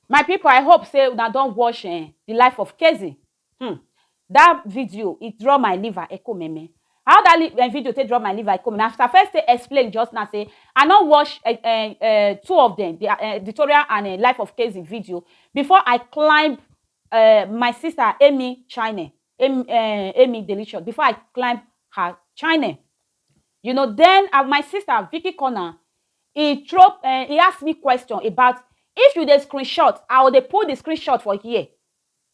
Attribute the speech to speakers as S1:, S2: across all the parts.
S1: My pipu I hope sey una don watch um the life of Kezi um that video e draw my liver ekumeme how that um video take draw my liver ekumeme as I first take explain just now sey I no watch um um two of dem their um Victoria and um life of Kezi video before I climb um my sister Amy channel Amy um Amy delicious before I climb her channel You know then ah my sister Vicky Corner e throw eh, e ask me question about if you dey screenshot, I will dey put the screenshot for here.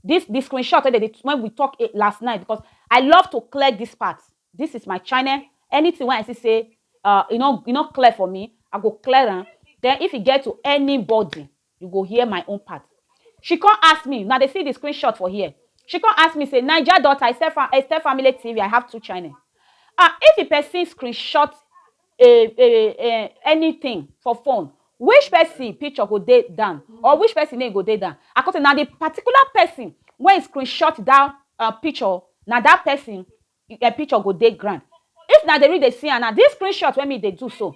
S1: This the screenshot wey dey dey when we talk eh, last night because I love to clear this part. This is my channel. Anything wey I see say uh, e no e no clear for me, I go clear am. Then if e get to anybody You go hear my own part. She come ask me, una dey see the screenshot for here. She come ask me say, Naija daughter, Estefamily TV, I have two channel. Ah, if the person screenshot a a a anything for phone, which person picture go dey down or which person name go dey down? I come say, na the particular person wey screenshot that uh, picture, na that person Your picture go dey ground if na dey real dey see am now this screen shot wey me dey do so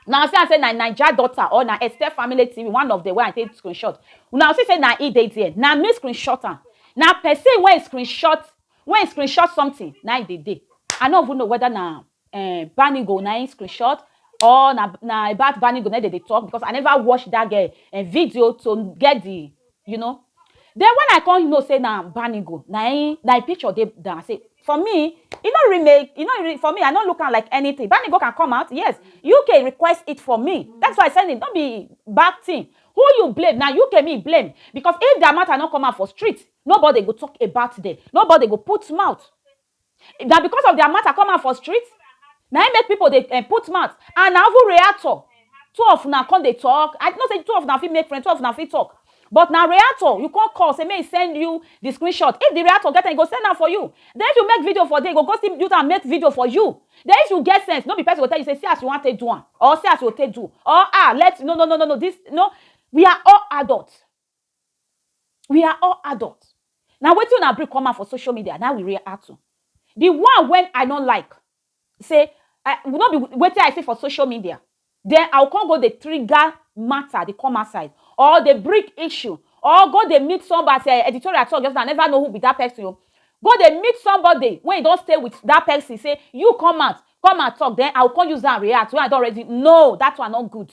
S1: una see am say na naija daughter or na esther family tv one of dem wey i take screen shot una go see say na e dey there na me screen shot am na person wey screen shot wey screen shot something na e dey dey i no even know whether na um banigo na him screen shot or na na about banigo na him dem dey talk because i never watch that um video to get the You know. Then when I come know say na Banigo na im na im picture dey down, I say for me e no really make e no really for me I no look am like anything, Banigo can come out yes UK request it for me that is why I send it no be bad thing who you blame na UK me blame because if their matter no come out for street nobody go talk about them, nobody go put mouth Na because of their matter come out for street na im make people dey um put mouth and na even reactor two of una come dey talk I know say two of una fit make friend two of una fit talk but na reactor you come call say make e send you the screenshot if the reactor get am e go send am for you then if you make video for there e go go still use am make video for you then if you get sense no be person go tell you say see as you wan take do am or see as you go take do or ah let no no no no no this no we are all adult We are all adult. Na wetin una bring come out for social media na we react to. The one when I no like say I no be wetin I see for social media then I will come go dey trigger matter dey come outside or dey bring issue or go dey meet somebody as eh, editorial talk just now I never know who be that person o. Go dey meet somebody wey e don stay with that person say you come out come and talk then I will come use am react when I don already know that one no good.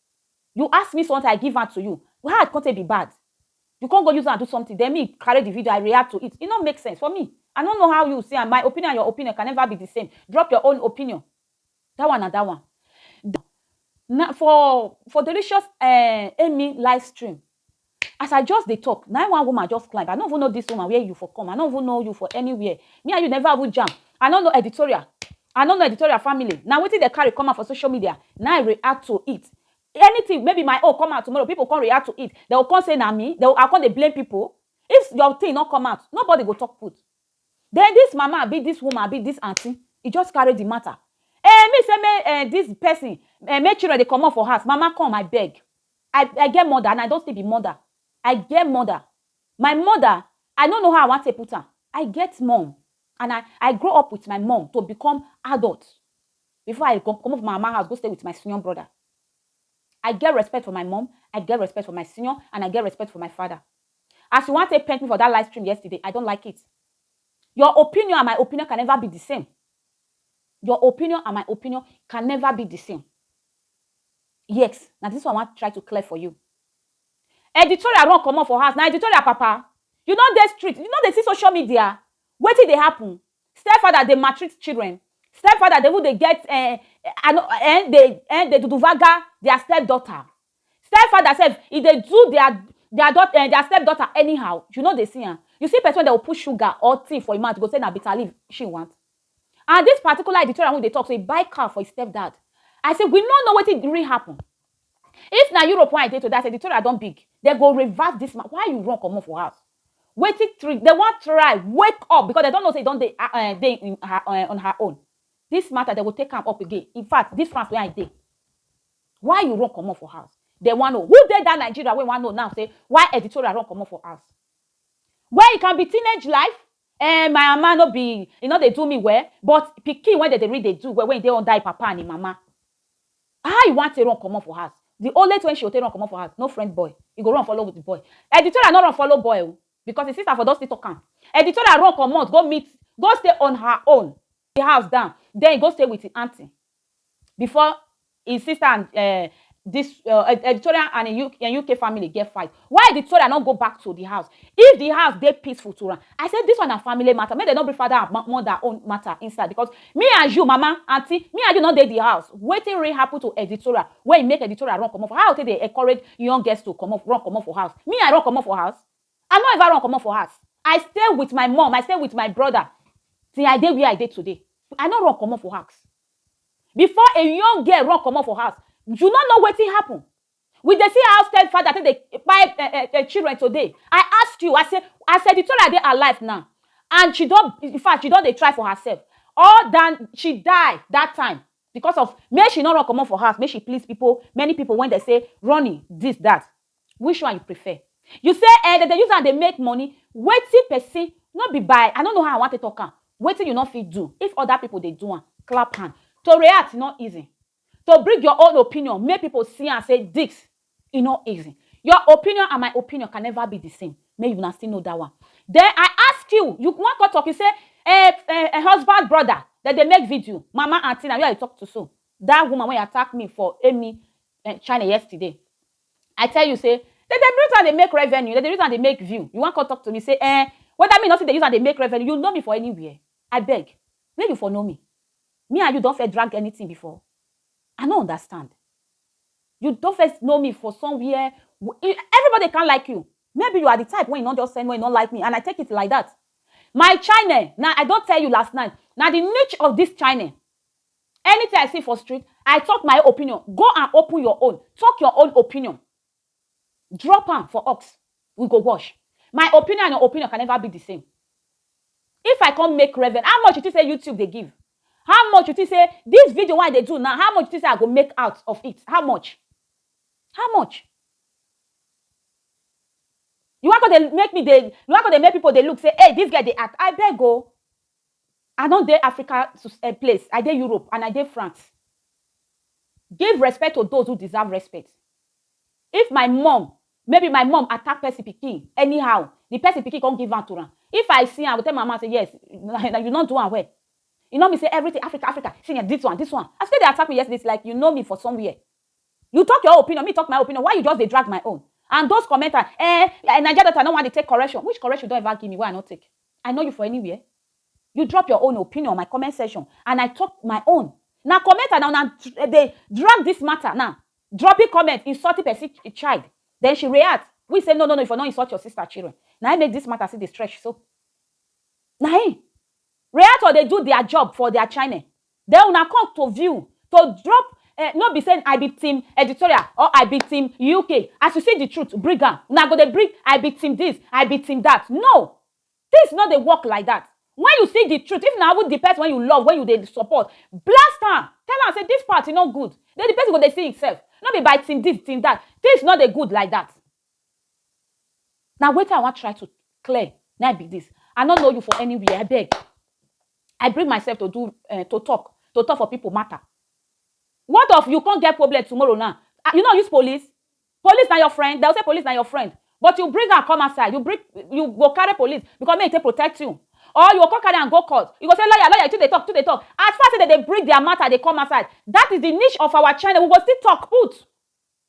S1: You ask me something I give am to you how I come take be bad you come go use am do something then me carry the video I react to it e no make sense for me I no know how you see am my opinion and your opinion can never be the same drop your own opinion that one na that one na for for delicious um Amy live stream As I just dey talk, na im one woman just climb. I no even know this woman, where you for come? I no even know you for anywhere. Me and you never even jam. I no know editorial. I no know editorial family. Na wetin dem carry come out for social media, na im I react to it. Anything, maybe my own come out tomorrow, people come react to it, dem go come say na me, dem go, I go come dey blame people? If your thing no come out, nobody go talk put. Then this mama abi this woman abi this aunty, e just carry the matter. Eh, me say make eh this person, eh make children dey comot for house. Mama come, I beg. I I get mother and I don still be mother I get mother My mother I no know how I wan take put am I get mum and I I grow up with my mum to become adult before I comot from my mama house go stay with my senior brother I get respect for my mum I get respect for my senior and I get respect for my father As you wan take paint me for that live stream yesterday I don't like it Your opinion and my opinion can never be the same Your opinion and my opinion can never be the same Yes, na dis one I wan try to clear for you. Editorial run comot for house, na editorial papa. You no dey street, you no dey see social media? Wetin dey happen? Stepfather dey maltreat children, stepfather dey even dey get um I no um dey um dey duduvaga dia stepdaughter. Stepfather sef, e dey do dia dia daughter um dia stepdaughter anyhow, you no dey see am? You see pesin wey dem go put sugar or tea for im mouth, you go say na bitterleaf she want? And this particular editorial wey dey talk say he buy car for his stepdad, I say we no know wetin really happen. If na Europe wey I dey today as editorial don big, dem go revert this man. Why you run comot for house? Wetin three, dem wan try wake up because dem don know say he don dey um dey in her um on her own. This matter dem go take am up again. In fact, this France wey I dey, why you run comot for house? Dem wan know. Who dey that Nigeria wey wan know now say why editorial run comot for house? When he can be teenage life, Ehh my mama no be e no dey do me well but pikin wey dem dey read dey do well when e dey under e papa and e mama how e wan take run comot for house the only thing wey she go take run comot for house no friend boy e go run follow the boy Editora no run follow boy o because e sister for don still talk am Editora run comot go meet go stay on her own e house down then e go stay with e aunty before e sister and um this uh, editorial and e UK, and UK family get fight. Why editorial no go back to the house? If the house dey peaceful to am, I say this one na family matter. Make dem no bring father and mother own matter inside because me and you, mama, aunty, me and you no dey the house. Wetin really happen to editorial wey make editorial run comot for how take dey encourage young girls to comot run comot for house? Me I run comot for house? I no ever run comot for house. I stay with my mum, I stay with my brother till I dey where I dey today. I no run comot for house. Before a young girl run comot for house, you no know wetin happen. We dey see how stepfather take dey kpai um um um children today. I ask you, I say, as Editorah dey alive now and she don, in fact, she don dey try for herself or than she die that time because of make she no run comot for house, make she please pipu, many pipu wey dem say running, this, that. Which one you prefer? You say eh dem dey use am dey make money, wetin person no be by I no know how I wan take talk am, wetin you no fit do if other people dey do am, clap hand. To react no easy, to bring your own opinion make people see am say this e no easy. Your opinion and my opinion can never be the same, make una still know that one. Then I ask you, you wan come talk you say eh husband brother dem dey make video, mama aunty na you I dey talk to so, that woman wey attack me for emi channel yesterday I tell you say dem dey use am dey make revenue, dem dey use am dey make view, you wan come talk to me say eh whether me no fit dey use am dey make revenue, you know me for anywhere? Abeg make you for know me, me and you don first drag anything before? I no understand, you don first know me for somewhere? Everybody can't like you, maybe you are the type wey you no just send wey you no like me and I take it like that, my channel na I don tell you last night na the niche of this channel Anything I see for street, I talk my opinion, go and open your own, talk your own opinion, drop am for ox, we go wash. My opinion and your opinion can never be the same. If I come make revenue, how much you think say YouTube dey give? How much you think say this video wey I dey do now, how much you think say I go make out of it? How much? How much? You wan come dey make me dey, you wan come dey make people dey look say, hey, this girl dey act. Abeg o, I don dey Africa um place, I dey Europe and I dey France. Give respect to those who deserve respect. If my mum, maybe my mum attack person pikin anyhow, the person pikin come give am to am, if I see am, I go tell my mama say yes, na you no do am well. E no mean say everything Africa, Africa, see um this one, this one. As you take dey attack me yesterday, it's like you know me for somewhere. You talk your own opinion, me talk my own opinion, why you just dey drag my own? And those commenters, um Naija daughter no wan dey take correction. Which correction you don ever give me wey I no take? I know you for anywhere? You drop your own opinion on my comment section and I talk my own. Na comment and una eh, dey drag this matter now. Dropping comment, insulting person eh, child. Then she react. We say, no, no, no, if you not insult your sister children. Now I make this matter see the stretch so. Now Reactor, they do their job for their channel. Then una come to view to drop eh no be say I be team editorial or I be team UK as you see the truth bring am una go dey bring I be team this I be team that no things no dey work like that when you see the truth if na even the person wey you love wey you dey support blast am tell am say this part e no good then the person go dey see himself no be by team this team that things no dey good like that. Na wetin I wan try to clear na im be dis. I no know you for anywhere abeg. I bring myself to do um to talk, to talk for pipu matter. What of you come get problem tomorrow now, you no use police? Police na your friend? They will say police na your friend but you bring am come outside, you bring, you go carry police because make e take protect you or you go come carry am go court, you go say lawyer, lawyer, you too dey talk, you too dey talk. As far sey de dey bring their matter dey come outside, dat is the niche of our channel. We go still talk put.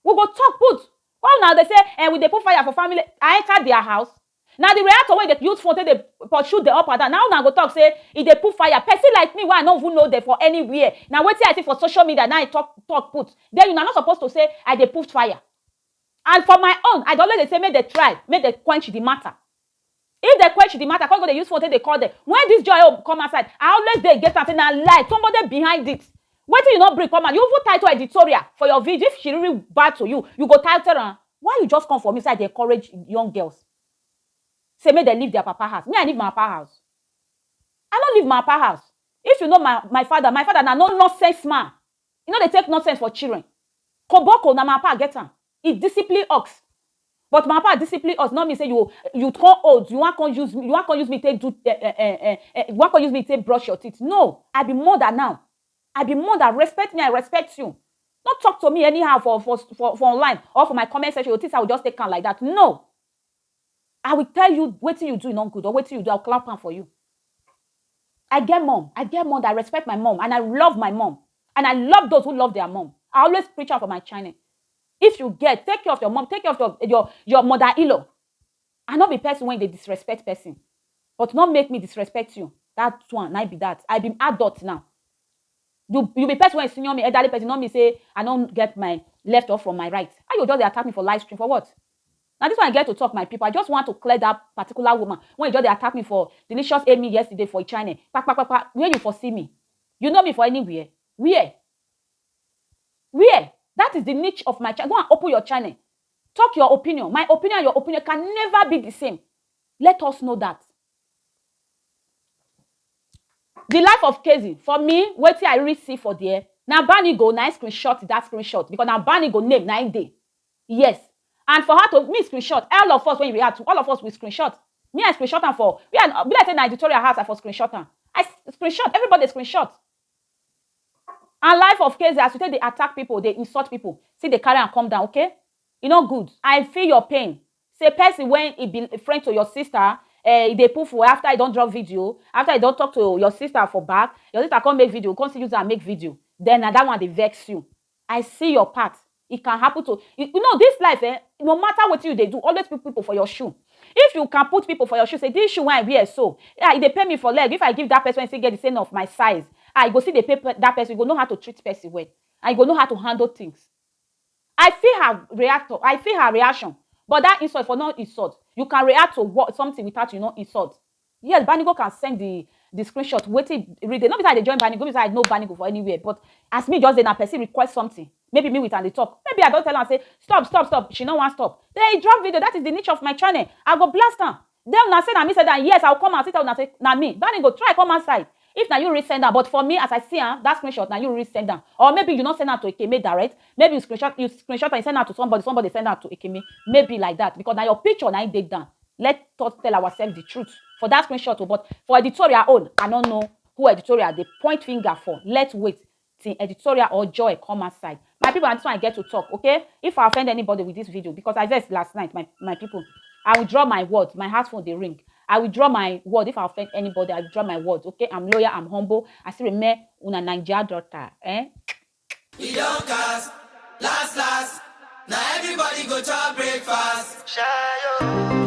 S1: We go talk put, why una dey say eh we dey put fire for family, I enter their house? Na the reactor wey dey use phone take dey pursue dem up and down, na una go talk say e dey put fire, person like me wey I no even know dem for anywhere, na wetin I see for social media na I talk talk put, then una no suppose to say I dey put fire and for my own I dey always dey say make dem try, make dem quench the matter, If dem quench the matter come go dey use phone take dey call dem when this joy own come outside I always dey against am say na lie somebody dey behind it wetin you no bring come out you even title editorial for your video if she really bad to you you go title am why you just come for me say I dey encourage young girls say make dem leave their papa house me I leave my papa house I no leave my papa house if you know my my father my father na no nonsense man e no dey take nonsense for children koboko na my papa get am He discipline ux but my papa discipline us no mean say you you come old you wan come use you wan come use me take do eh, eh, eh, eh, eh, you wan come use me take brush your teeth no I be mother now I be mother respect me I respect you no talk to me anyhow for for for for online or for my comment section you think say I will just take am like that no I will tell you wetin you do no good or wetin you do, I will clap am for you. I get mom, I get mom that I respect my mom and I love my mom and I love those who love their mom. I always preach am for my channel. If you get, take care of your mom, take care of your, your, your mother-in-law. I not be person when they disrespect person, but not make me disrespect you. That one, I be that. I be adult now. You, you be person when senior me, elderly person, not me say, I don't get my left off from my right. How you just attack me for live stream for what? Na this one I get to talk my people, I just want to clear that particular woman when e just dey attack me for Delicious Amy yesterday for e channel, kpakpakpakpa where you for see me? You know me for anywhere? Where? Where? That is the niche of my channel, go and open your channel, talk your opinion, my opinion and your opinion can never be the same, let us know that. The life of Kezi, for me wetin I really see for there, na Banigo na im screenshot that screenshot because na Banigo name na im dey, Yes and for her to me screenshot all of us when you react to all of us we screenshot me I screenshot am for we I be like say na editorial house I for screenshot am I screenshot everybody screenshot and life of Keze as you take dey attack people dey insult people still dey carry am come down okay e no good I feel your pain say person when e be friend to your sister eh e dey put fuel after e don drop video after e don talk to your sister for back your sister come make video come still use am make video then na that one dey vex you I see your part it can happen to you know this life eh no matter wetin you dey do always put people for your shoe if you can put people for your shoe say this shoe wey I wear so ah e dey pain me for leg if I give that person wey still get the same of my size ah e go still dey pain that person you go know how to treat person well and you go know how to handle things I feel her react o I feel her reaction but that insult for no insult you can react to what something without you no insult Yes Banigo can send the the screenshot wetin read it. No be say I dey join Banigo, no be say I know Banigo for anywhere but as me just dey na person request something maybe me with am dey talk maybe I don tell am say stop stop stop she no wan stop then he drop video that is the nature of my channel I go blast am then una say na me send am yes I will come out still tell una say na me Banigo try come outside If na you really send am but for me as I see am that screenshot na you really send am or maybe you no send am to Ekeme direct maybe you screenshot you screenshot am you send am to somebody somebody send am to Ekeme maybe like that because na your picture na im dey down let us tell ourselves the truth for that screenshot o but for editorial own I no know who editorial dey point finger for let wait till editorial or joy come outside my people and this one i get to talk okay if i offend anybody with this video because i vex last night my my people i will draw my word my house phone dey ring i will draw my word if i offend anybody i will draw my word okay i'm loyal i'm humble i still remain una naija daughter eh e don cast last last na everybody go chop breakfast. Shayo.